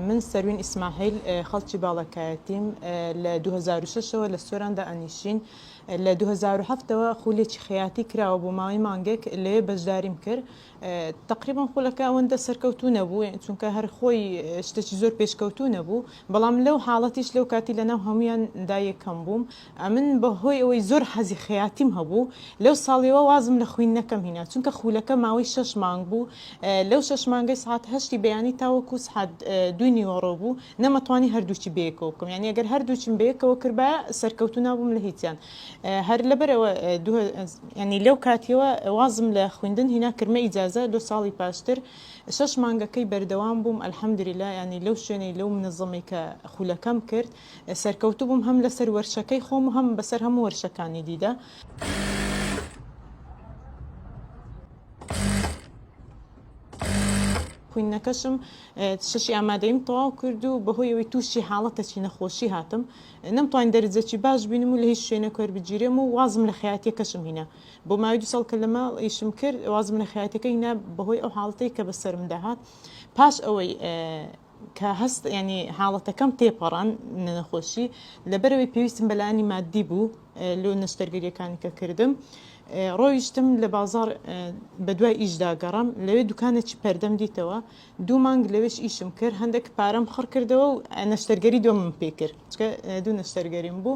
من سەروین ئیسماحیل خەڵکی باڵەکایەتیم لە 2006ەوە لە سۆراندا ئەنیشین لە 2007ەوە خولێکی خەیاتی کراوە بۆ ماوەی مانگێک لێ بەشداریم کرد تقریبان خولەکە ئەوەندە سەرکەوتو نەبوو چونکە هەر خۆی شتێکی زۆر پێشکەوتو نەبوو بەڵام لەو حاڵەتیش لەو کاتی لەناو هەمویان دایەکەم بووم ئەمن بە هۆی ئەوەی زۆر حەزی خەیاتیم هەبوو لەو ساڵیەوە وازم لە خویندنەکەم هینا چونکە خولەکە ماوەی شەش مانگ بوو لەو شەش مانگەی سەعات هەشتی بەیانی تاوەکو سەعات دووی نیوەڕۆ بوو نەمە توانی هەردووکی بەیەکەوە بکەم یانی ئەگەر هەردووکیم بەیەکەوە کردبایە سەرکەوتوو نابووم لە هیچیان هەر لەبەرەوە دوو یانی لەو کاتیەوە وازم لە خویندن هینا کرمە ئیجازە لۆ ساڵی پاشتر شەش مانگەکەی بەردەوام بووم الحمدللە یانی لەو شوێنەی لەو منەزەمەی کە خولەکەم کرد سەرکەوتوو بووم هەم لەسەر وەرچەکەی خۆم و هەم بەسەر هەموو وەرچەکانی دیدا. خویندنەکەشم شەشی ئامادەیم تەواو کرد و بەهۆی ئەوەی تووشی حاڵەتەکی نەخۆشی هاتم نەمتوان دەرجەکی باش بینم و لە هیچ شوێنە کەر بگیرێم و وازم لە خیاتەکەشم هینا بۆ ماوەی دو ساڵ کە لە ماڵ ئیشم کرد وازم لە خیاتەکە هینا بەهۆی ئەو حاڵەتەی کە بەسەرم داهات پاش ئەوەی کە هەست ینی حاڵەتەکەم تێپەڕان نەخۆشی لەبەرەوەی پێویستم بەلایانی مادی بوو لۆ نەشتەرگەریەکانی کە کردم ڕۆیشتم لە بازار بە دوای ئیشدا گەڕم لەوێ دوکانێکی پەردەم دیتەوە دوو مانگ لەوێش ئیشم کرد هەندێک پارەم خڕ کردەوە و نەشتەرگەری دۆمم پێ کرد دوو نەشتەرگەریم بوو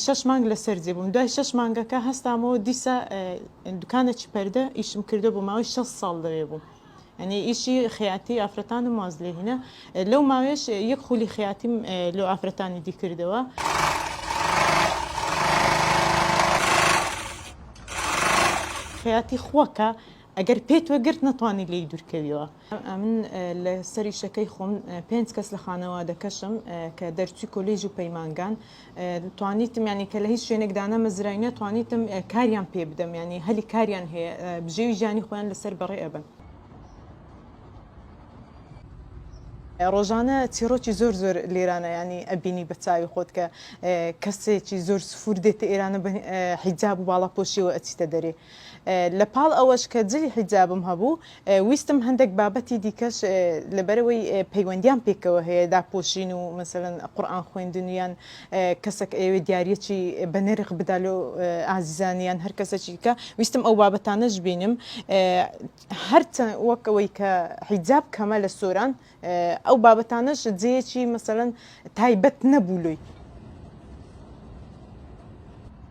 شش مانگ لەسەر جێ بووم دوای شش مانگەکە هەستامەوە دیسە دوکانێکی پەردە ئیشم کردو بۆ ماوەی شە ساڵ لەوێ بوو یانی ئیشی خەیاتی ئافرەتانم واز لێ هینا لەو ماوێش یەک خولی خەیاتیم لۆ ئافرەتانی دی کردەوە. خەیاتی خوەکە ئەگەر پێت وەگرت نەتوانانی لی دوورکەویەوە ئەمن لە سەری شەکەی خۆم پێنج کەس لە خانەوادەکەشم کە دەرچوی کۆلیژ و پەیمانگان توانیتم یانی کە لە هیچ شوێنێک دانەمەزراینە توانیتم کاریان پێ بدەم ینی هەلی کاریان هەیە بژێوی ژیانی خۆیان لەسەر بەڕێ ئەبن ڕۆژانە چیڕۆکی زۆر زۆر لێرانە ینی ئەبینی بە چاوی خۆت کە کەسێکی زۆر سفور دێتە ئێرانە حیجاب و باڵاپۆشیەوە ئەچیتە دەرێ لە پاڵ ئەوەش کە جلی حیجابم هەبوو، ویستم هەندێک بابەتی دیکەش لەبەرئەوەی پەیوەندیان پێکەوە هەیە، داپۆشین و مەسەلەن قورئان خوێندن و یان کەسەک ئەیەوێ دیاریەکی بە نرخ بدا لۆ ئازیزانی یان هەر کەسەکی دیکە، ویستم ئەو بابەتانەش بینم. هەرچەند وەک ئەوەی کە حیجاب کەمە لە سۆران، ئەو بابەتانەش جێیەکی مەسەلەن تایبەت نەبوو لۆی.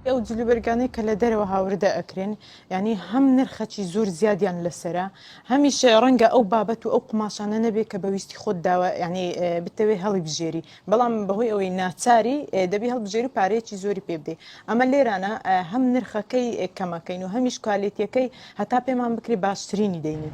ئەو جلوبەرگانەی کە لە دەرەوە هاوردە ئەکرێن ینی هەم نرخەچی زۆر زیادیان لەسرە هەمیشە ڕەنگە ئەو بابەت و ئەو قوماشانە نەبێت کە بەویستی خۆت داوە ینی بتەوێ هەڵی بژێری بەڵام بەهۆی ئەوەی ناچاری دەبی هەڵبژێری و پارەیەکی زۆری پێ بدەی ئەمە لێرانە هەم نرخەکەی کەمەکەین و هەمیش کوالێتیەکەی هەتا پێمان بکری باشترینی دەینی.